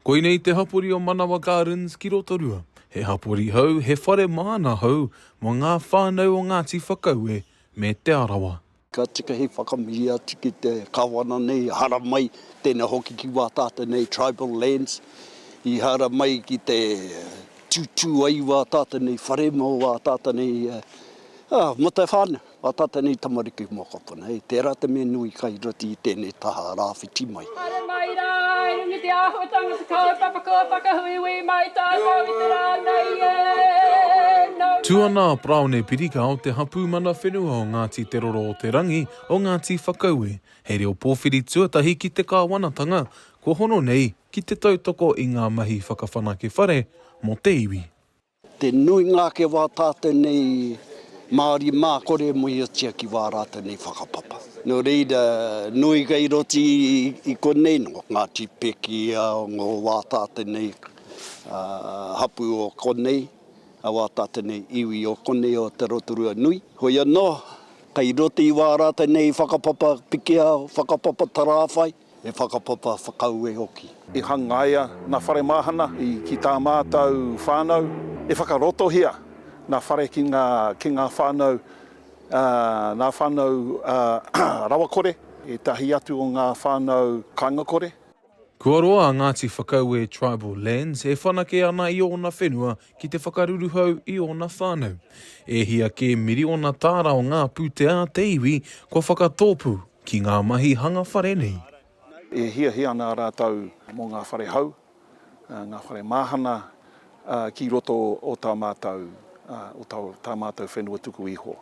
Koinei te hapori o Manawa Gardens ki Rotorua. He hapori hou, he whare māna hou mō ngā whānau o Ngāti Whakaue me Te Arawa. Ka tika he whakamihi atu ki te Kāwana nei, haramai, tēnā hoki ki Wātāte nei, tribal lands, i haramai ki te tūtū ai i Wātāte nei, whare mō Wātāte nei, ā, mō te whānau. Ngā tātai nei tamariki mō koutou nei, tērā te mea nui kai roto i tēnei taha rāwhiti mai. Haere mai rā, i runga i te āhuatanga te kaupapa kua whakahuihui mai tātou i te rā nei e. Tū ana a Paraone Pirika o te hapū mana whenua o Ngāti Te Roro o te Rangi o Ngāti Whakaue, hei reo pōwhiri tuatahi ki te kāwanatanga kua hono nei ki te tautoko i ngā mahi whakawhanake whare mō te iwi. Te nuinga ake wā tātou nei Māori mā kore e mōhiotia ki wā rātou nei whakapapa. Nō reira, nui kei roti i konei nō Ngāti Pēkiia, ngō wā tātou nei hapū o konei, a wā tātou nei iwi o konei o te Rotorua nui. Hoi anō, kei roti i wā rātou nei whakapapa pikiao, whakapapa tarāwhai, He whakapapa whakaue hoki. I hangaia ngā whare māhana ki tā mātou whānau. I whakarotohia ngā whare ki ngā ki ngā whānau ngā whānau rawakore, ētahi atu o ngā whānau kāingakore. Kua roa a Ngāti Whakaue Tribal Lands e whanake ana i ōna whenua ki te whakaruruhau i ōna whānau. E hia kē miriona tāra o ngā pūtea a te iwi kua whakatōpū ki ngā mahi hanga whare nei. E hiahia ana rātou mō ngā whare hou, ngā whare māhana ki roto o tā mātou, o tā mātou whenua tuku iho.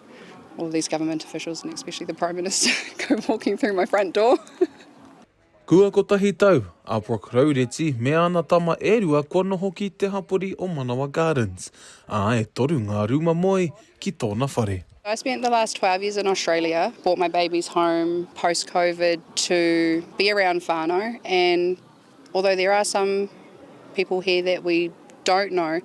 All these government officials and especially the Prime Minister go walking through my front door. Kua kotahi tau a Brooke Raureti me ana tama e rua kua noho ki te hapori o Manawa Gardens, ā, e toru ngā rūma moe ki tōna whare. I spent the last 12 years in Australia, brought my babies home post-Covid to be around whānau and Although there are some people here that we don't know,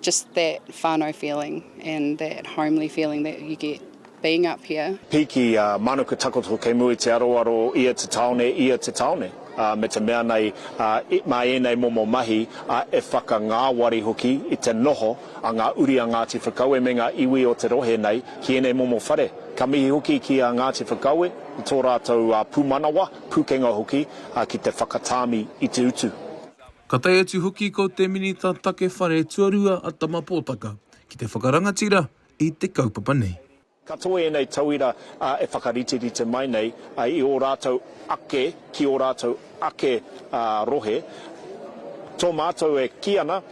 just that whanau feeling and that homely feeling that you get being up here. Piki, a Manuka takoto kei mua i te aroaro o ia te taone, ia te taone, a me te mea nei, a, i, ma enei momo mahi, a e whakangawari hoki i te noho a nga uri a Ngati Whakaue me nga iwi o te rohe nei ki enei momo whare. Ka mihi hoki ki a Ngati Whakaue i to ratou a pumanawa. Pūkenga hoki ki te whakatāmi i te utu. Ka tae atu hoki ko te Minita Take Whare Tuarua a Tama Potaka ki te whakarangatira i te kaupapa nei. Ka toe ēnei tauira e whakariterite mai nei i ō rātou ake, ki ō rātou ake rohe. Tō mātou e kī ana,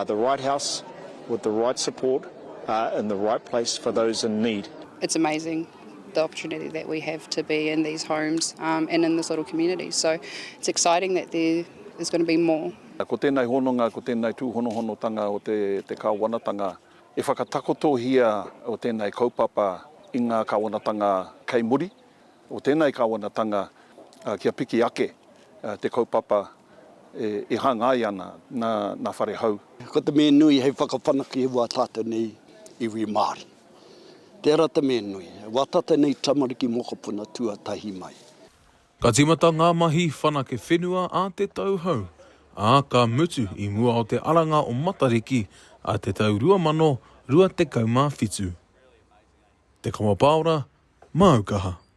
the right house with the right support in the right place for those in need. It's amazing. the opportunity that we have to be in these homes um, and in this little community. So it's exciting that there is going to be more. Ko tēnei hononga, ko tēnei tūhonohonotanga o te, te kāwanatanga, e whakatakotohia o tēnei kaupapa i ngā kāwanatanga kei muri, o tēnei kāwanatanga uh, kia piki ake uh, te kaupapa e, e hangai ana na, na whare hau. Ko te mea nui hei whakawhanake i wā tātou nei iwi Māori. Tera te mea nui. Wata tenei tamariki mokopuna tuatahi mai. Ka timata ngā mahi whanake whenua a te tau hou, ā, ka mutu i mua o te aranga o Matariki a te tau 2027. Te Kawa Paora, Māu Kaha.